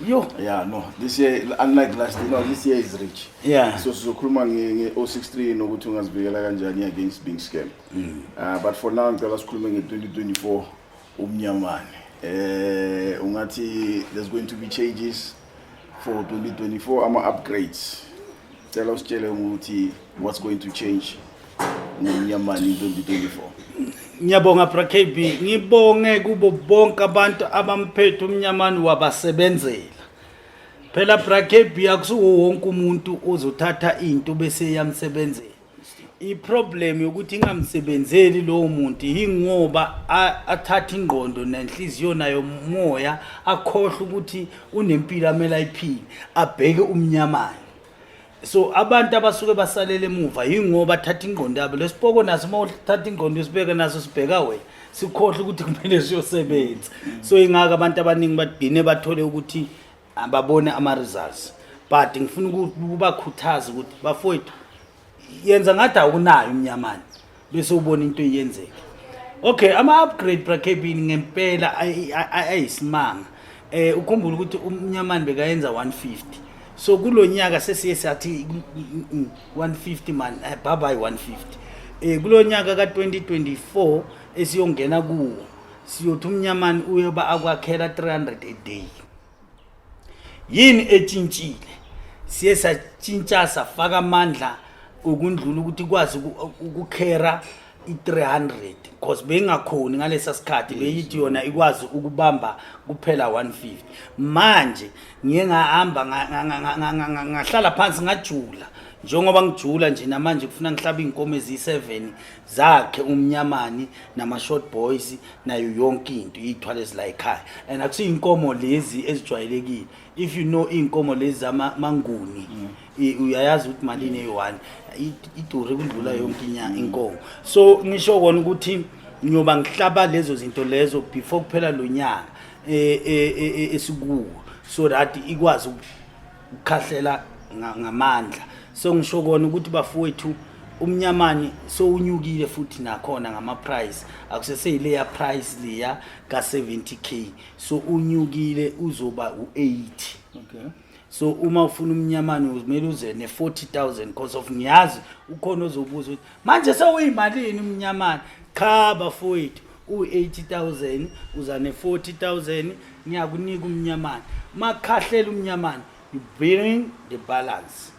Yo. Yeah, no. This year, unlike last year, no, this year is rich. Yeah. So sizokhuluma nge-063 nokuthi ungazivikela kanjani against being scammed. Mm. Uh, but for now ngicela sikhulume nge-2024 umnyamane. Eh uh, ungathi there's going to be changes for 2024 ama upgrades. Cela usitshele ukuthi what's going to change ngomnyamani 2024. Ngiyabonga Bra KB, ngibonge kubo bonke abantu abamphethe umnyamani wabasebenzela. Phela Bra KB akusuwo wonke umuntu ozothatha into bese yamsebenzela. iproblem yokuthi ingamsebenzeli lowo muntu yingoba athatha ingqondo nenhliziyo nayo moya akhohle ukuthi unempilo amele ayiphile abheke umnyamane so abantu abasuke basalele emuva yingoba athatha ingqondo yabo lesipoko naso uma uthatha ingqondo usibeke naso sibheka wena sikhohle ukuthi kumele siyosebenza so ingaka abantu abaningi bagcine bathole ukuthi ababone ama results but ngifuna ukubakhuthaza ukuthi bafowethu yenza ngathi awunayo umnyamane bese ubona into eyenzeka okay ama upgrade brakebini ngempela ayisimanga eh ukhumbula ukuthi umnyamane bekayenza 150 so kulonyaka sesiye sathi 150 man eh, bye bye 150 eh kulonyaka ka 2024 esiyongena kuwo siyothi umnyamani uyoba akwakhela 300 a day yini etshintshile siye satshintsha safaka amandla ukundlula ukuthi kwazi ukukhera i-300 because beyingakhoni ngalesa sikhathi beyithi yona ikwazi ukubamba kuphela 150 manje ngiye ngahamba ngahlala phansi ngajula njengoba ngijula nje namanje kufuna ngihlaba iy'nkomo eziyi-7 zakhe umnyamani nama-short boys nayo yonke into iy'thwale zila ekhaya and akusiyinkomo lezi ezijwayelekile if you know iy'nkomo lezi zamanguni mm. uyayazi ukuthi malini eyi-one idure kundlula yonke mm. inkomo so ngisho kona ukuthi ngiyoba ngihlaba lezo zinto lezo before kuphela lo nyaka eh, eh, eh, esikuwo so that ikwazi ukukhahlela nga- ngamandla so ngisho kona ukuthi bafowethu umnyamani sowunyukile futhi nakhona ngama-price akuseseyileya price leya ka-70 k so unyukile uzoba u-80 okay so uma ufuna umnyamane kumele uze ne-40 000 because of ngiyazi ukhona ozobuza ukuthi manje sewuyimalini umnyamana cha bafowethu u-80000 uza ne-40000 ngiyakunika umnyamana makhahlela umnyamana you bring the balance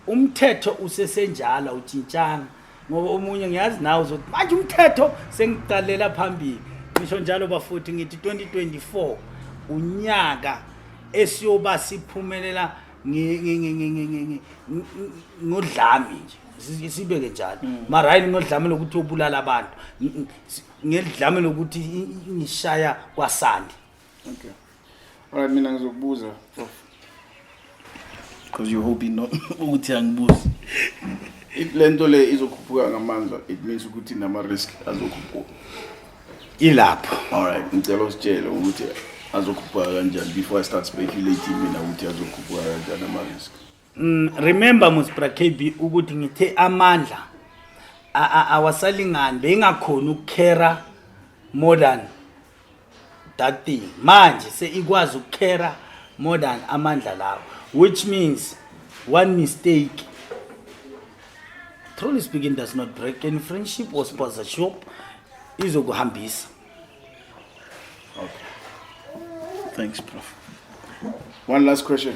umthetho usesenjalo awutshintshanga ngoba omunye ngiyazi nawe uzothi manje umthetho sengiqalela phambili ngisho njalo bafuthi ngithi 2024 unyaka esiyoba siphumelela ngodlami nje Si- sibeke njalo mara hayi nginodlame lokuthi obulala abantu Ng- ng- si- ngedlame lokuthi i- i- ngishaya kwasandi Okay. Alright mina ngizokubuza prof. Because you're hoping no ukuthi angibuzi. If lento le izokhuphuka ngamandla it means ukuthi nama risk azokhuphuka. ilapho Alright ngicela usitshele ukuthi azokhuphuka kanjani before I start speculating mina ukuthi azokhuphuka kanjani ama risk. Mm, remember Musbra KB ukuthi ngithe amandla awasalingani bengakhona ukukhera more than that thing manje seyikwazi ukukhera more than amandla lawo which means one mistake truly speaking does not break any friendship or sponsorship izokuhambisa okay thanks prof one last question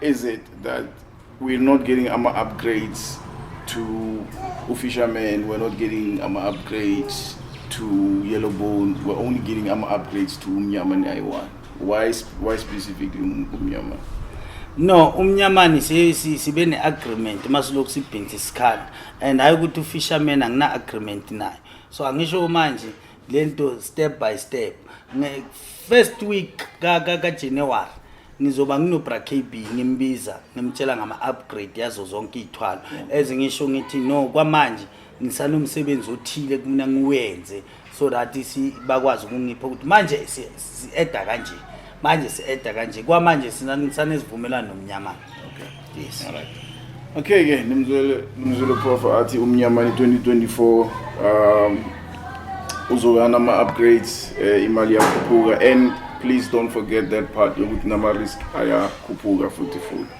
Is it that we're not getting our upgrades to Ufisherman, we're not getting our upgrades to Yellowbone, we're only getting our upgrades to Umyaman Iwan. Why, why specifically um, Umyaman? no umnyamani sibe ne-agreement uma silokhu sibhinsa isikhala and hhayi ukuthi ufisherman angina-agreement nayo so angisho manje le nto step by step first week kajanuwari ka, ka ngizoba nginobra KB ngimbiza ngimtshela ngama upgrade yazo zonke izithwalo ezingisho ngithi no kwamanje ngisanomsebenzi othile kumina ngiwenze so that si bakwazi ukungipha ukuthi manje si eda kanje manje si eda kanje kwamanje sina ngisane sivumelana nomnyama okay yes alright okay ke nimzwele nimzwele prof athi umnyamani 2024 um uzoba nama upgrades eh, imali yakhuphuka and please don't forget that part yokuthi nama risk ayakhuphuka futhi futhi